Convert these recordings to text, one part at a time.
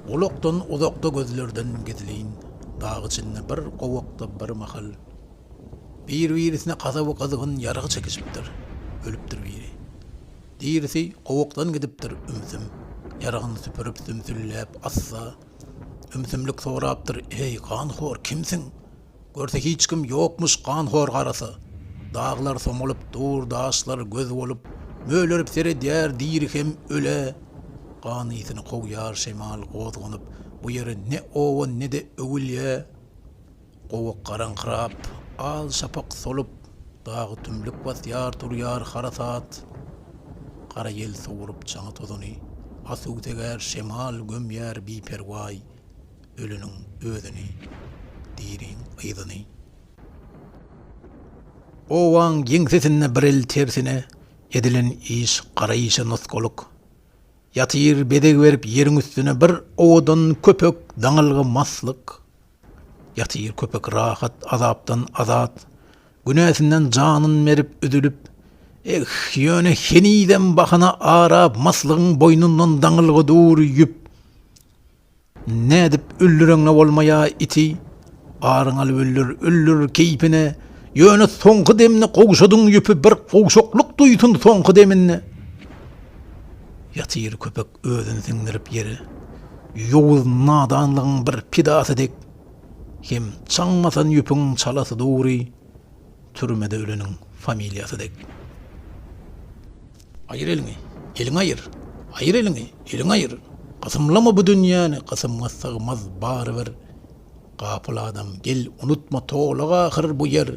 Gulakdan uzakda gözlerden gizlin dag içinde bir gowakda bir mahal bir birisine gazaby gyzgyn ýarag çekişipdir. Ölüpdir biri. Dirisi gowakdan gidipdir ümsüm ýaragyny süpürip sümsülläp assa ümsümlik sorapdyr eý ganhor kimsiň? Görse hiç kim ýokmuş ganhor garasy. Daglar somulyp dur, daşlar göz bolup, Mölerip seredýär diri hem öle. Gan ysyny kowýar şemal gozganyp, Bu ýere ne oba, ne-de öwülýä. Gowak garaňkyrap, al şapak solup, Dagy tümlük basýar, turýar harasat. Gara ýel sowrup çaňy-tozuny, Asuw segär şemal gömýär biperwaý. Ölüniň özüni, diriň yzyny. Obaň ýeňsesinde bir el tersine, Edilen iş gara işe nusgalyk. Ýatyr bezeg berip ýeriň üstüne Bir owadan köpek, daňylgy maslyk. Ýatyr köpek rahat, azapdan azat, Günäsinden janyn berip, üzülip. Eh, ýöne henizem bahana arap, Maslygyň boýnundan daňylgy dur ýüp. Nädip öldüreňňe bolmaýa iti aryň alyp öldür öldür keýpine ýöne soňky demini gowşadyň ýüpi bir gowşaklyk duýsun soňky deminde ýatyr köpek özün siňdirip ýere ýowuz nadanlygyň bir pidasy dek hem çaň basan ýüpiň çalasy dogry türmede öleniň familiýasy dek. Aýyr eliňi, eliňi aýyr, Aýyr eliňi, eliňi aýyr, Gysymlama bu dünýäni, Gysymňa sygmaz barybir. Gapyl adam, gel, unutma, Tolak ahyr bu ýer.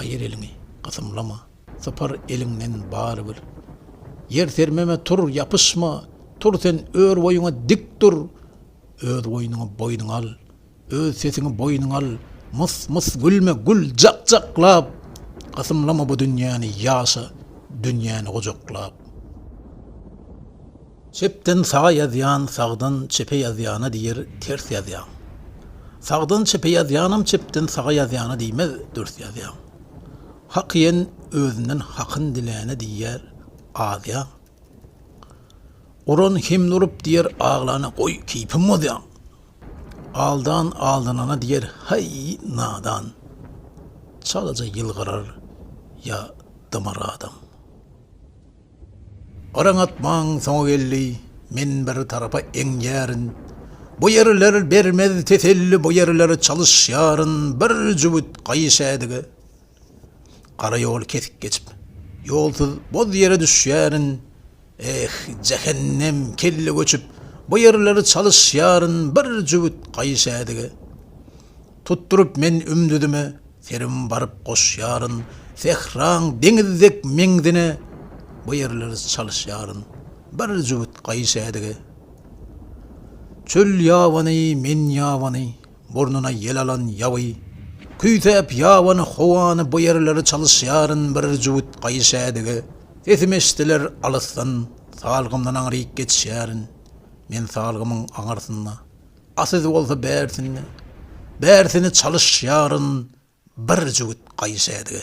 Aýyr eliňi, gysymlama, Sypar eliňden barybir. Ýer sermeme, tur, ýapyşma, Tur sen, ör boýuňa dik dur, Öz goýnuňy boýnuňa al. Öz sesiňi boýnuňa al mys mys gülme gül jak jaklap Gysymlama bu dünýäni ýaşa dünýäni gujaklap. Çepden saga ýazýan sagdan çepe ýazýana diýer ters ýazýaň Sagdan çepe ýazýanam çepden saga ýazýana diýmez dürs ýazýaň Hak iýen özünden hakyn diläne diýer azýaň Uran himn urup diýer aglana goý keýpim bozýaň Aldan aldanana diýer, Haý, nadan! Çalaja ýylgyrar ýa dymar adam. Garaň atmaň soňy geldi, Men bir tarapa eňýärin. Bu ýerler bermez teselli, Bu ýerler çalyşýaryn. Bir jübüt gaýyş ädige. Gara ýoly kesik geçip, ýolsuz boz ýere düşýärin, Eh, jähennem, kelle göçüp, bu ýerleri çalyşýaryn bir jübüt gaýyşädige. Tutduryp men ümdüzime serim baryp goşýaryn, sähraň deňiz dek meňzine bu ýerleri çalyşýaryn bir jübüt gaýyşädige. Çöl ýabany, men ýabany, Burnuna ýel alan ýaby, küýsäp ýabany howany bu ýerleri çalyşýaryn bir jübüt gaýyş ädigi, sesim eşdiler alysdan, salgymdan aňryk geçýärin, men salgymyň aňyrsynda, a siz bolsa bärsinde, bärsini çalyşýaryn bir jübüt gaýyş ädigi.